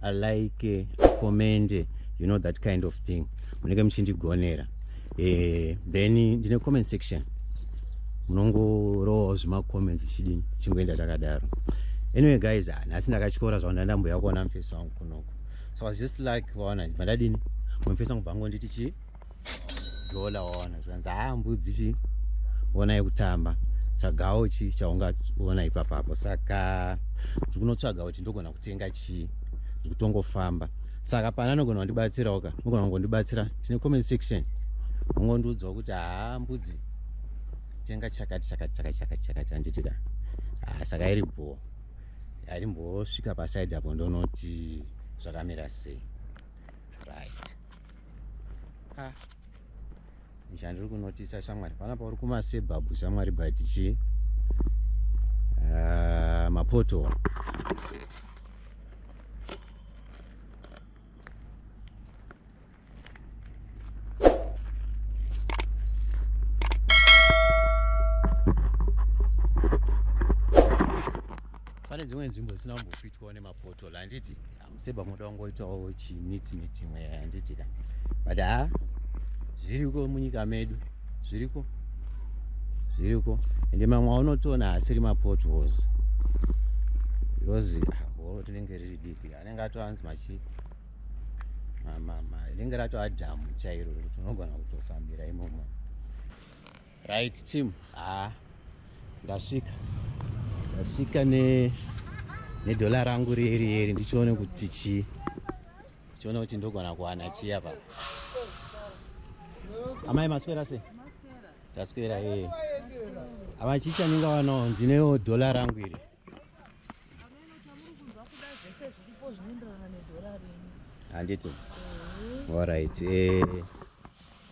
a like a comment you know that kind of thing munenge muchindigonera eh, then ndine comment section munongorowawo zvemacomments chidini chingoenda takadaro anyway guys ah, nhasi ndakatyora zvavo ndandambuya kuona mufesi wangu kunoko so i was just like vaona bva ndadini mufesi wangu bva ngonditi chii dhola waona zvanzi haa mbudzi chi ona yekutamba tsvagawo chi chaungaona ipapapo saka ndiri kunotsvaga kuti ndogona kutenga chii ndiri kutongofamba saka pana anogona kundibatsirawo ka anogona kungondibatsira tine comment section ungondiudzawo kuti haa mbudzi tenga chakati chakati chakati chakati chakati handiti ka haa saka iri bhoo arimbosvika pasaidi apo ndonoti zvakamira sei right ha chandiri kunotisa shamwari pana pauri kumasebhabhu shamwari but chii uh, mapoto pane dzimwe nzvimbo dzisina kumbofitwawo nemapoto handiti Seba moda wangoitawo chimiti miti imwe handiti ka but ha zviriko munyika medu zviriko zviriko ende mamwe aunotoona asiri mapotholes because horo ah, tinenge riri diki anenge atoanzi machi rinenge ratoadhamu chairo tinogona kutofambira imomo right team ah ndasvika ndasvika ne nedhola rangu rieri eri ndichione kuti chii ndichione kuti ndogona kuwana chii apa amai maswera se taswera ee eh. amai chii chandinga wanawo ndinewo dhola rangu iri handiti eh. allright ee eh.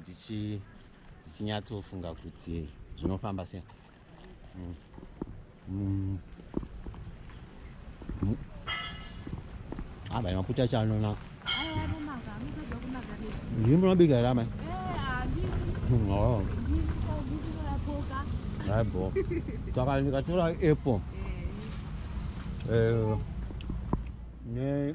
ndichinyatsofunga ndichi kuti zvinofamba sei mm. mm. mm. aba ah, maputa acho anonaka ndiri munobika here amai aibo saka ndikatora apple eh, eh, ne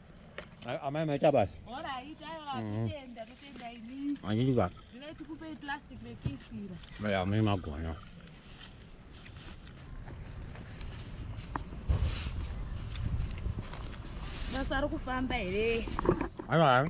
amai maita basa anditi ka ya mune magona basa ari kufamba here aiwa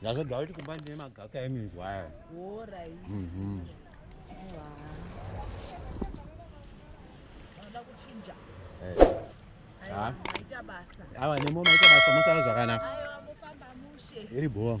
ndazodwa kuti kumba ndine magaka eminzwa aya mhm. eh. awa nemo maita basa mosara zvakanaka iri bhoo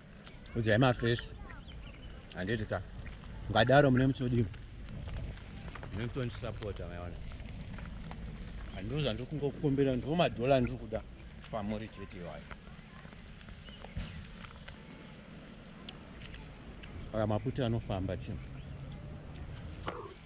udzai mafesi handiti ka ngadaro mune mutodii mune mutondisapota maiona handiro zvandiri kungokumbira ndiwo madhola ndiri kuda pamuri chete iwayo aka maputi anofamba chii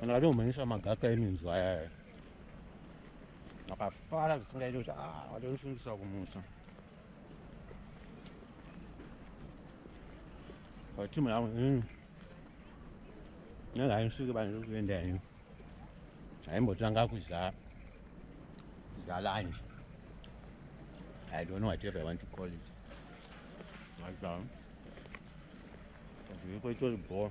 kana vatomhanyisa magaka eminzwa ayaya akafara zvisingaite kuti ah, vatosungisa kumusa vatimu yavo hmm. nenge haisvike panzviri kuenda henyu haimbotanga kudya kudya lunch i don't know whatever i want to call it mazamu zviko itori bhoo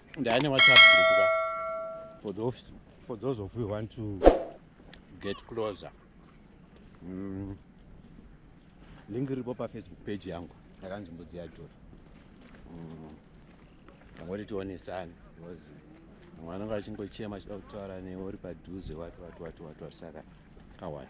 ndane whatsapp group ka for those for those of you want to get closer mm. link ripo pa facebook page yangu yakanzi mbudzi ya jora mm. angoti tionesani because vamwe vanenge vachingochema chida kutaura newe uri padhuze wati wati wati wati wati saka kawani